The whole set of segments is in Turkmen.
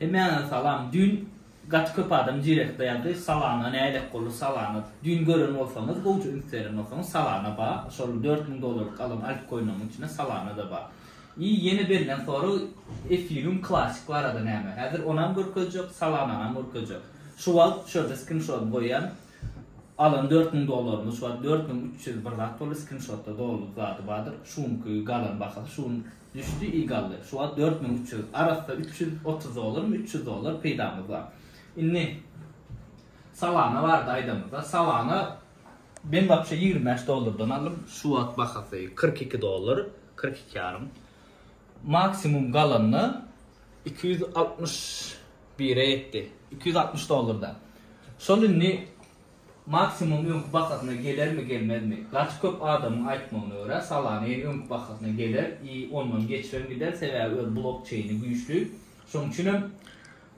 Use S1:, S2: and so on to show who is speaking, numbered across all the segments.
S1: Hemmäňize salam düýn gaty köp adam direktda ýazdy salana nälet boldy salana düýn gören bolsaňyz gowja üns beren bolsaňyz salana ba şol dört müň dollarlyk alan altkoiniňiň içinde salana da ba i ýene berilen sorag efirium klasik barada näme häzir onam görkezjek salanaňam görkezjek şu wagt şu ýerde skrinşodyny goýýan alan dört müň dollarymyz şu wagt dört müň üç ýüz bir zat boldy skrinşotda dolly zady bardyr şu günki galan bahasy şu gün Düşdi i gally. Şu wagt dört müň üç ýüz. Arassa üç ýüz otuz dollarmy, üç ýüz dollar peýdamyz bar. Indi Solana barada aýdamyzda, Solana men wapşe ýigrimi bäş dollardan aldym. Şu wagt bahasy kyrk iki dollar, kyrk iki ýarym. Maksimum galanda iki ýüz altmyş bire ýetdi. Iki ýüz altmyş dollarda. Şol indi Maksimum öňki bahasyna gelermi gelmezmi? Gaty köp adamyň aýtmagyna görä Solana ýene öňki bahasyna geler i ondan geçibem gider sebäbi öz blok çeýni güýçli şoň üçinem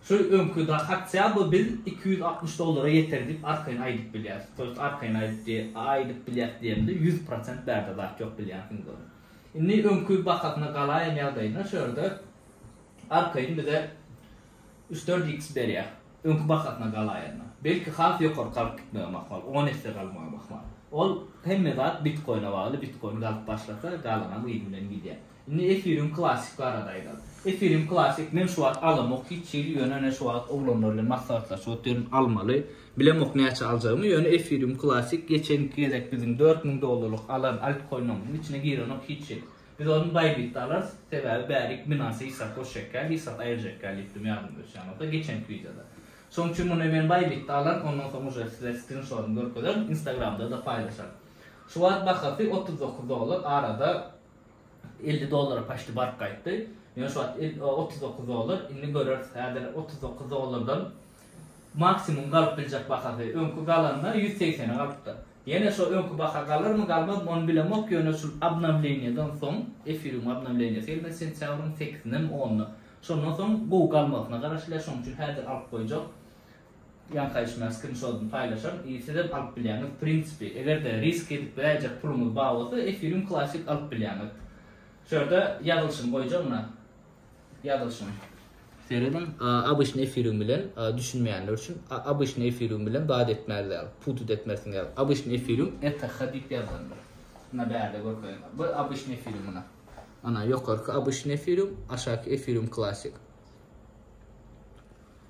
S1: şu öňki da hatya by biz iki ýüz altmyş dollara ýeter diýip arkaýyn aýdyp bilýäs to ýest arkaýyn aýdyp diýe aýdyp bilýäs diýemde ýüz prosent bärde zat ýok bilýänsiňiz ony indi öňki bahasyna galaýan ýagdaýynda şu ýerde arkaýyn bize üç dört iks berýär. Öňki bahasyna galaýanda, belki has ýokary galyp gitmegem ahmal, on esse galmagam ahmal. Ol, hemme zat bitkoine bagly, bitkoin galyp başlasa, galanam yz bilen gidýär. Indi efirium classic barada aýdaly. Efirium classic men şu wagt alamok hiç hili, ýöne ene şu wagt oglanlar bilen maslahatlaşyp otyryn, almaly. Bilemok näçe aljagymy, ýöne efirium classic geçenki gezek biziň dört müň dollarlyk alan altkoinimyzyň içine girenok hiç hili. Biz ony baýbitde alarys, sebäbi bäri iki binansa hissat goşjakýa, hissat aýyrjakýa diýip durun ýadyňyza düşýän bolsa geçenki wideoda. Şonuň üçin muny men baýbitde alaryn, ondan soň uje size skrinşotyny görkezerin, instagramda-da paýlaşaryn. Şu wagt bahasy otuz dokuz dollar, arada elli dollara paçti baryp gaýtdy. Ýöne şu wagt otuz dokuz dollar, indi göreris, häzir otuz dokuz dollardan Maksimum galyp biljek bahasy öňki galanda ýüz segsene galypdyr. Ýene şo öňki baha galarmy galmazmy ony bilemok ýöne şul obnowleniýadan soň efirium obnowleniýasy gelmez sentýabryň sekizinem onyna şondan soň gowy galmagyna garaşylýar şoň üçin häzir alyp goýjak ýaňkaýyşmaýar skrinşodyny paýlaşaryn i sizem alyp bilýäňiz prinsipi egerde risk edip biläýjek puluňyz bar bolsa efirium klasik alyp bilýäňiz şu ýerde ýazylyşyny goýjagna Ýazylyşyny serediň. Obyçny efiriň bilen düşünmeýänler üçin obyçny efiriň bilen zat etmäz ýaly, putut etmersiň ýaly. Obyçny efiriň ETH diýip ýazylandyr. Muna bärde görkeziň. Bu obyçny efiriň muna. Ana ýokarky obyçny efiriň, aşaky efiriň klassyk.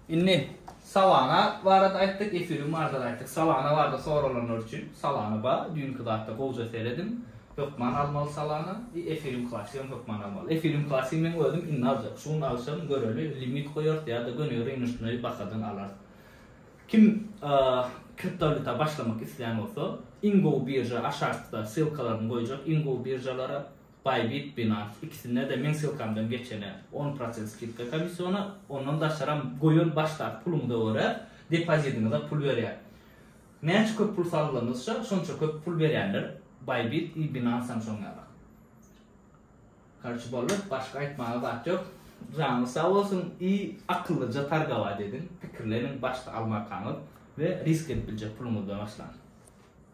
S1: Indi Solana barada aýtdyk, Ethereum barada aýtdyk. Solana barada soralanlar üçin Solana bar. Düýnki zatda gowja serediň. Hökman almaly Solana. I Ethereum Classic hem hökman almaly. Ethereum Classic meň özüm indi aljak. Şu gün alsam göreli limit goýarys ýa-da göni rynocnyý bahadan alarys. Kim kriptowalýuta başlamak isleýän bolsa, iň gowy birža aşakda ssylkalaryny goýjak iň gowy biržalara. Bybit Binance ikisinde-de meň ssylkamdan geçene on prosent skidka komissiona, ondan daşaram goýan başdaky puluňyza görä depozidiňize pul berýär. Näçe köp pul salgylanyşsa şonça köp pul berýänler Bybit i Binance hem şoň ýaly. Karçe boldy, başga aýtmaga zat ýok. Janyňyz sag bolsun i akyllyja targawaýt ediň, pikirleniň başda almarkaňyz we risk edip biljek puluňyzdan başlaň.